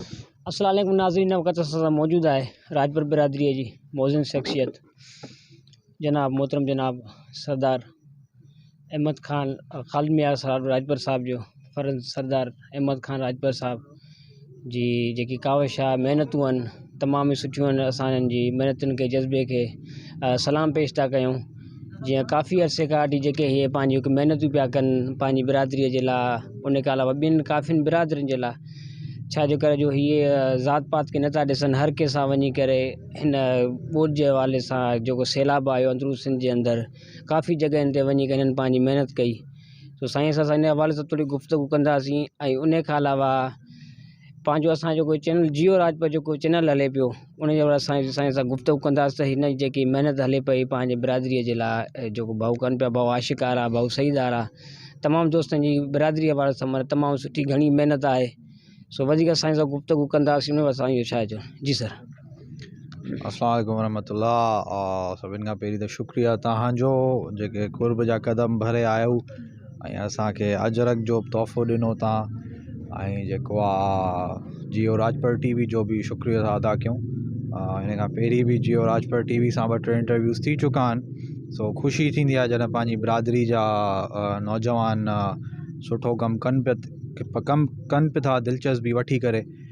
السلام عليڪم ناظرين وقت اسان سان موجود آهي راجپور برادري جي موزن شخصيت جناب محترم جناب سردار احمد خان خالد ميار صاحب راجپور صاحب جو فرض سردار احمد خان راجپور صاحب جي جيڪي ڪاوش آهي محنتون آهن تمام سٺيون آهن اسان جي محنتن کي جذبي کي سلام پيش ٿا ڪيون جيئن ڪافي عرصي کان وٺي جيڪي هي پنهنجيون هڪ محنتون پيا ڪن پنهنجي برادريء جي لاء ان کان علاوه ٻين ڪافين برادرين جي لاء ڇا جو ڪري جو هيء ذات پات کي نٿا ڏسن هر ڪنهن سان وڃي ڪري هن ٻوڏ جي حوالي سان جيڪو سيلاب آيو اندرون سنڌ جي اندر ڪافي جڳهين تي وڃي ڪري هنن پنهنجي محنت ڪئي سو سائين سان اسان ان حوالي سان ٿوري گفتگو ڪنداسين ۽ ان کان علاوه پنهنجو اسان جو جيڪو چينل جيو راجپوت جيڪو چينل هلي پيو ان جي سائين سائين سان گفتگو ڪنداس ته هن جي جيڪي محنت هلي پئي پنهنجي برادريء جي لاء جيڪو ڀائو ڪن پيا ڀائو عاشق آرا ڀائو سعيد آرا تمام دوستن جي برادريء وارا سمر تمام سٺي گهڻي محنت آهي سو وڌيڪ سائين سان گفتگو ڪنداسين ان سائين جو ڇا چون جي سر السلام عليڪم ورحمۃ اللہ سڀني کان پهرين ته شڪريا تهانجو جيڪي قرب جا قدم ڀري آيو ۽ اسان کي اجرڪ جو بھ تحفو ڏنو تان ۽ جيڪو آ جيو راجپال ٽي وي جو بھ شڪريو تھا ادا ڪيون ھن کان پھرين بھ جيو راجپال ٽي وي سان ٻ ٽي انٽرويوز ٿي چڪا آھن سو خوشي ٿيندي آ جڏھن پنھنجي برادري جا نوجوان سٺو ڪم ڪن پيا ڪم ڪن بھ تھا دلچسبي وٺي ڪري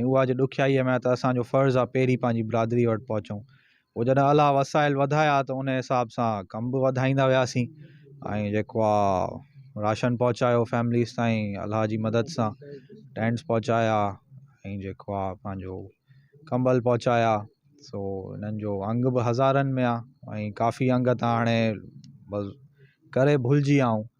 ۽ اها جي ڏکيائيء ۾ آهي ته اسان جو فرض آهي پهرين پنهنجي برادريء وٽ پهچون. پوء جڏهن الله وسائل وڌايا ته ان حساب سان ڪم به وڌائيندا وياسين ۽ جيڪو آ راشن پهچايو فيمليز تائين الله جي مدد سان ٽينٽس پهچايا ۽ جيڪو آ پنهنجو ڪمبل پهچايا سو انهن جو انگ به هزارن ۾ آ ۽ ڪافي انگ ته هاڻي بس ڪري ڀلجي ويا آهون.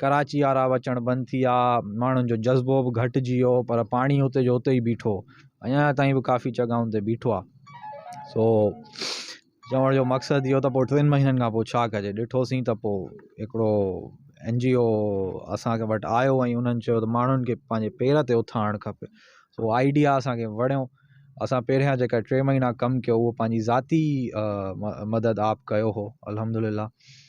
ڪراچي وارا به اچڻ بند ٿي ويا، ماڻهن جو جذبو به گهٽجي ويو پر پاڻي اتي جو اتي ئي بيٺو، اڃا تائين به ڪافي جڳهن تي بيٺو آهي. سو چوڻ جو مقصد اهو ته پوء ٽن مهينن کان پوء ڇا ڪجي، ڏٺوسين ته پوء هڪڙو اين جي او اسان وٽ آيو ۽ انهن چيو ته ماڻهن کي پنهنجي پير تي اٿارڻ کپي، سو آئيڊيا اسانکي وڻيو، اسان پهريان جيڪا ٽي مهينا ڪم ڪيو اهو پنهنجي ذاتي مدد آپ ڪيو هو الحمدلله.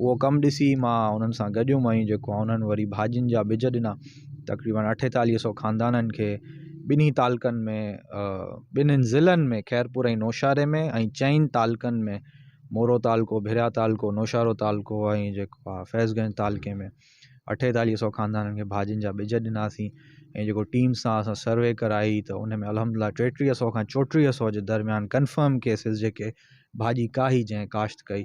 اهو ڪم ڏسي مان انهن سان گڏيم ۽ جيڪو آهي انهن وري ڀاڄين جا ٻج ڏنا. تقريبن اٺيتاليهه سئو خاندانن کي ٻنهي تعلقن ۾ ٻنهين ضلعن ۾ خيرپور ۽ نوشهري ۾ ۽ چئن تعلقن ۾ مورو تعلقو، ڀريا تعلقو، نوشهرو تعلقو ۽ جيڪو آهي فيض گنج تعلقي ۾ اٺيتاليهه سئو خاندانن کي ڀاڄين جا ٻج ڏناسين ۽ جيڪو ٽيم سان اسان سروي ڪرائي ته ان ۾ الحمدلله ٽيٽيهه سئو کان چوٽيهه سئو جي درميان ڪنفرم ڪيسز جيڪي ڀاڄي ڪاهي جنهن ڪاشت ڪئي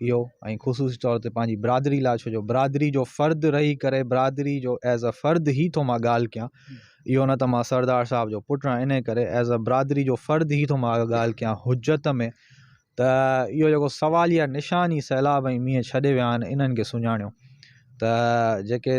اهو ۽ خصوصي طور تي پنهنجي برادري لاء ڇو جو برادري جو فرد رهي ڪري برادري جو ایز اے فرد هي ٿو مان ڳالهه ڪيان اهو نه ته مان سردار صاحب جو پٽ آهيان ان ڪري ايز اے برادري جو فرد هي ٿو مان ڳالهه ڪيان حجت ۾ ته اهو جيڪو سوال يا نشان ئي سيلاب ۽ مينهن ڇڏي ويا آهن انهن کي سڃاڻيو ته جيڪي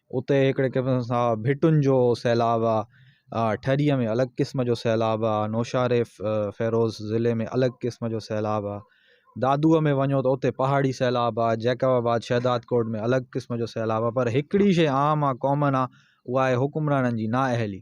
اتي هڪڙي قسم سان ڀٽن جو سيلاب آ، ٺريء ۾ الڳ قسم جو سيلاب آ، نوشهري فيروز ضلعي ۾ الڳ قسم جو سيلاب آ، دادوء ۾ وڃو ته اتي پهاڙي سيلاب آ، جيڪب آباد شهداد ڪوٽ ۾ الڳ قسم جو سيلاب آ پر هڪڙي شيء عام آ ڪامن آ اها آهي حڪمرانن جي نااهلي.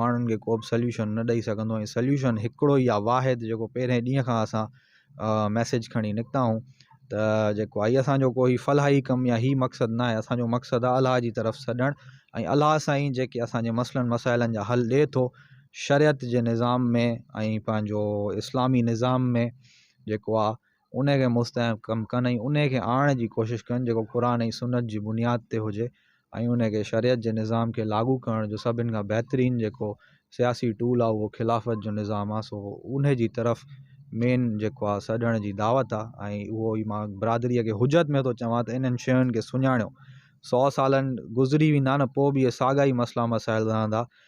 ماڻهن کي ڪو به سليوشن نه ڏئي سگهندو ۽ سليوشن هڪڙو ئي آ واحد جيڪو پهرين ڏينهن کان اسان ميسيج کڻي نڪتا آهون ته جيڪو آهي اسانجو ڪوئي فلاحي ڪم يا هي مقصد نه آهي اسانجو مقصد آ الله جي طرف سڏڻ ۽ الله سان ئي جيڪي اسانجي مسئلن مسائلن جا حل ڏئي ٿو شريعت جي نظام ۾ ۽ پنهنجو اسلامي نظام ۾ جيڪو آ ان کي مستحڪم ڪم ڪن ۽ ان کي آڻڻ جي ڪوشش ڪن جيڪو قرآن ۽ سنت جي بنياد تي هجي ۽ ان کي شريعت جي نظام کي لاڳو ڪرڻ جو سڀني کان بهترين جيڪو سياسي ٽول آهي اهو خلافت جو نظام آهي سو ان جي طرف مين جيڪو آهي سڏڻ جي دعوت آهي ۽ اهو ئي مان برادريء کي حجت ۾ ٿو چوان ته انهن شين کي سڃاڻيو سؤ سالن گذري ويندا نه پوء به اهي ساڳا ئي مسئلا مسائل رهندا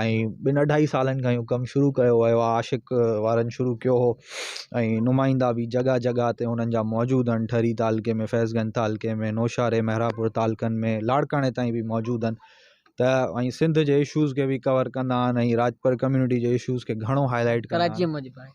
۽ ٻن اڍائي سالن کان اهو ڪم شروع ڪيو ويو آهي عاشق وارن شروع ڪيو هو ۽ نمائندا به جڳهه جڳهه تي انهن جا موجود آهن ٺري تعلقي ۾ فيض گنج تعلقي ۾ نوشهري مهراپور تعلقن ۾ لاڙڪاڻي تائين به موجود آهن ته ۽ سنڌ جي اشوز کي به ڪور ڪندا آهن ۽ راڄپر ڪميونٽي جي اشوز کي گهڻو هائلائٽ ڪندا آهن